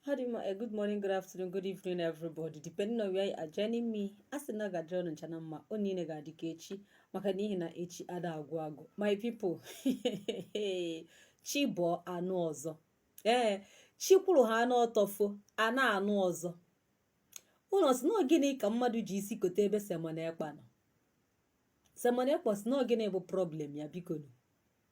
How do you, uh, good morning, good afternoon, good evening, everybody. Depending on where you are joining me, a sị na ọ ga-adịrị ụnụ ncha na mma ọ niile ga-adị ka echi maka n'ihi na echi ada agwụ agwụ my people chi bọọ a nụ ọzọ ee eh, chi kwụrụ ha anụ ọtọfo a na-anụ ọzọ ụnụ sị na gịnị ka mmadụ ji isi kote ebe Simon Ekpa nọ Simon Ekpa sị na gịnị bụ problem ya biko nụ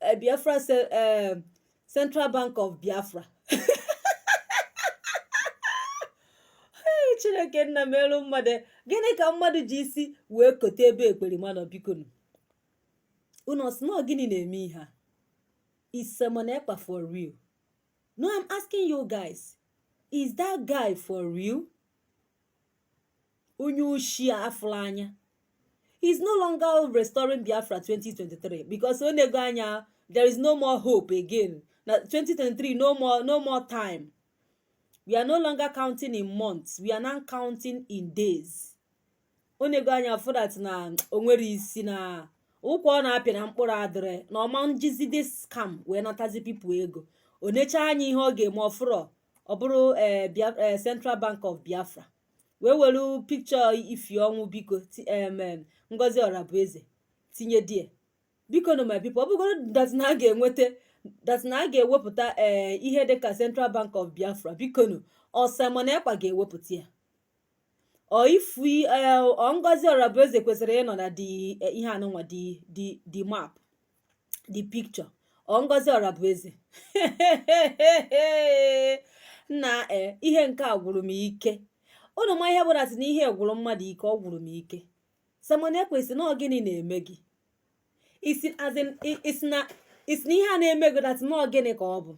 eh, Biafra eh, Central Bank of Biafra chineke nna melu mmadụ gịnị ka mmadụ ji isi wee kote ebe ekperima nọ biko nụ unu sị na gịnị na-eme ihe a is Simon Ekpa for real no i'm asking you guys is that guy for real onye oshi afụrụ anya he's no longer restoring biafra 2023 because o nego anya there is no more hope again na 2023 no more no more time we are no longer counting in months we are now counting in days o nego anya fụ that na o nwerọ isi na ụkwa ọ na-apịa na mkpụrụ adịrọ na ọ ma njizi this scam wee natazi people ego o necha anya ihe ọ ga-eme ọ fụrọ ọ bụrụ eh, eh, Central Bank of Biafra wee were picture ifu ọnwụ biko Ngozi Orabueze tinye there biko nụ my people ọ bụgoro that na a ga-enweta that na a ga-ewepụta ee eh, ihe dịka Central Bank of Biafra biko nụ ọ Simon Ekpa ga-ewepụta ya ọ ifu Ngozi Orabueze kwesịrị ịnọ na ihe anụnwa the map the picture ọ Ngozi Orabueze na eh, ihe nke a gwụrụ m ike ụnụ ma ihe bụ a sị na ihe gwụrụ mmadụ ike ọ gwụrụ m ike Simon Ekpa ị sị na gịnị na-eme gị ị sị na ihe a na-eme gị that na gịnị ka ọ bụ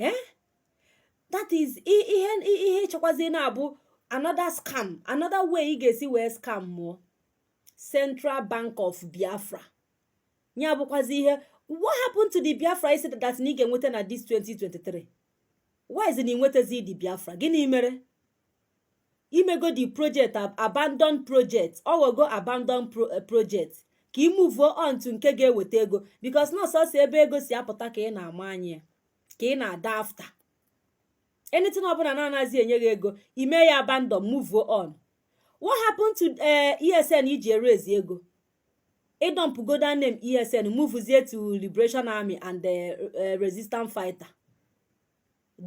eh? that is ihe ihe ị chọkwazi na-abụ another scam another way ị ga-esi wee scam mụọ Central Bank of Biafra ya bụkwazi ihe what happened to the Biafra ị sị that na ị ga-enweta na this 2023 why is na ị nwetazi the Biafra gịnị mere i mego the project abandon project ọ ghọgo abandon eh, project ka ị move on to nke ga-eweta ego because na ọ sọsọ ebe ego si apụta ka ị na-ama anya ka ị na-ada after anything ọbụla na anazi enye gị ego i mee ya abandon move on what happened to eh, esn iji eraise ego ịdọmpụgo that name esn muvuzie to liberation army and eh, eh, resistance fighter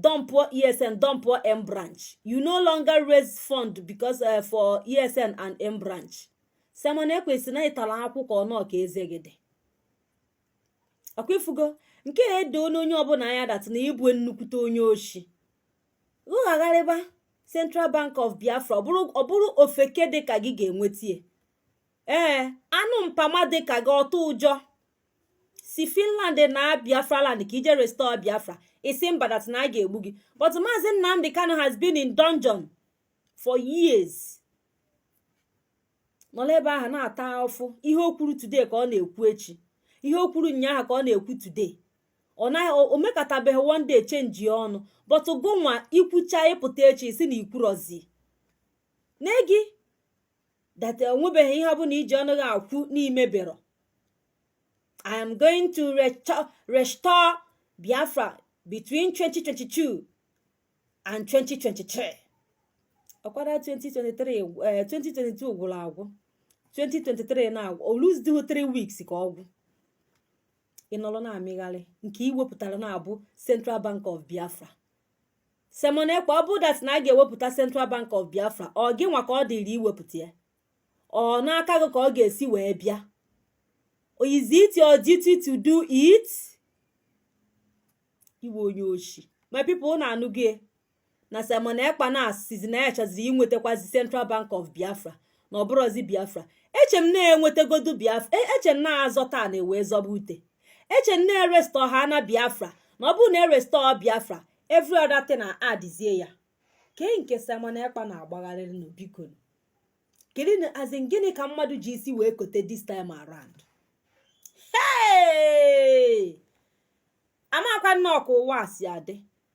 dọmpụọ esn dọmpụọ m branch you no longer raise fund because uh, for esn and m branch simon ekpa isi na ịtara akwụkwọ ọnụ ka eze gị dị akwa ifugo nke a edo onye ọbụla anya that na ịbụ nnukwute onye oshi rụghagharịba Central Bank of Biafra ọ bụrụ ofeke dị ka gị ga-enwetie ee anụ mpama dị ka gị ọtụ ụjọ si Finland naa Biafra land ka ije restore Biafra isi mba that na a ga-egbu gị but Maazị Nnamdi Kanu has been in dungeon for years nọla ebe ahụ na-ata ụfụ ihe o kwuru today ka ọ na-ekwu echi ihe o kwuru ụnyaahụ ka ọ na-ekwu today o mekatabeghị one day chenjie ọnụ but gụnwa ikwucha ịpụta echi si na ikwurozi na gị that onwebeghị ihe ọbụla iji ọnụ gị ekwu n'imebero i am going to restore biafra between 2022 and 2023 ọkwara 2022 gwụrụ agwụ 2023 na-agwụ ọ less than 3 weeks ka ọ gwụ ịnọrọ na-amịgharị nke iwepụtara na-abụ Central Bank of Biafra Simon Ekpa ọ bụ that na a ga-ewepụta Central Bank of Biafra ọ gị nwa ka ọ dịrị iwepụta ya ọ n'aka gị ka ọ ga-esi wee bịa is it your duty to do it ị wụ onye oshi my people unu anụgo na Simon Ekpa na asịzi na ya chọziri iwetakwazi Central Bank of Biafra na ọ bụrọzi Biafra eche m na-enwetagodu Biafra e, eche m na-azọta ana ewee zọba ute eche m na-erestọ ha na Biafra na ọ bụrụ na erestọ Biafra every other thing na adịzie ya kee nke Simon Ekpa na-agbagharịrị nụ biko kedu na as in gịnị ka mmadụ ji isi wee kote this time around hey! amakwa nnọọ ka ụwa si adị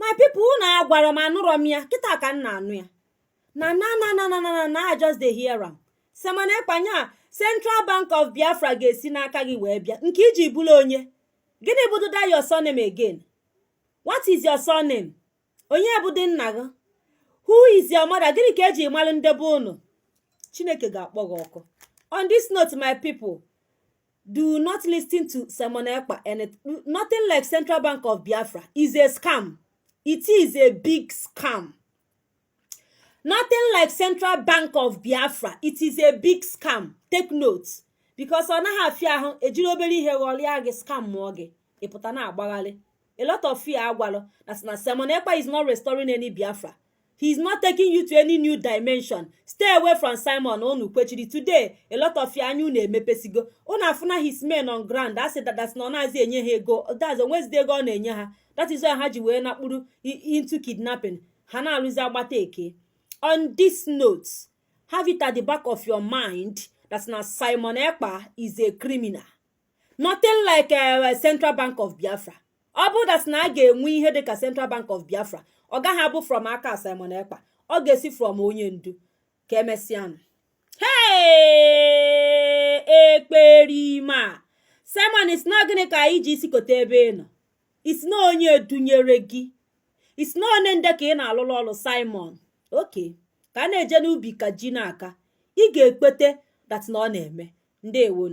my people unu agwara m anụrọ m ya kịta ka m na-anụ ya na na na na na na na I just dey hear am Simon Ekpa nya Central Bank of Biafra ga-esi n'aka gị wee bịa nke iji bụrụ onye gịnị bụ that your surname again what is your surname onye bụdị nna gị who is your mother gịnị ka eji malụ nde be unu chineke ga-akpọ gị ọkụ on this note my people do not listen to Simon Ekpa and nothing like Central Bank of Biafra is a scam. It is a big scam. Nothing like Central Bank of Biafra. It is a big scam. Take note. Because ọ naghị afịa ahụ ejiri obere ihe ghọrịa gị scamụọ gị. ịpụta na-agbagharị a lot of you agwalụ that na Simon Ekpa is not restoring any Biafra he is not taking you to any new dimension stay away from Simon unu kwechiri today a lot of you anya unu emepesigo unu afụna his men on ground asị that that na ọ nazị enye ha ego that o nwezide ego ọ na-enye ha that is why ha ji wee nakpuru into kidnapping ha na-arụzi agbata ekee on this note have it at the back of your mind that na Simon Ekpa is a criminal nothing like eh, Central Bank of Biafra ọ bụrụ dat na a ga-enwe ihe dịka Central Bank of Biafra ọ gaghị abụ from aka Simon Ekpa ọ ga-esi from onye ndu ka emesịanụ hey ekperima Simon ị sị na gịnị ka i ji isi kote ebe ị nọ ị sị na onye dunyere gị ị sị na onye nde ka ị na-alụlụ ọlụ Simon okay ka a na-eje n'ubi ka ji na-aka ị ga-ekpete dat na ọ na-eme ndeewonu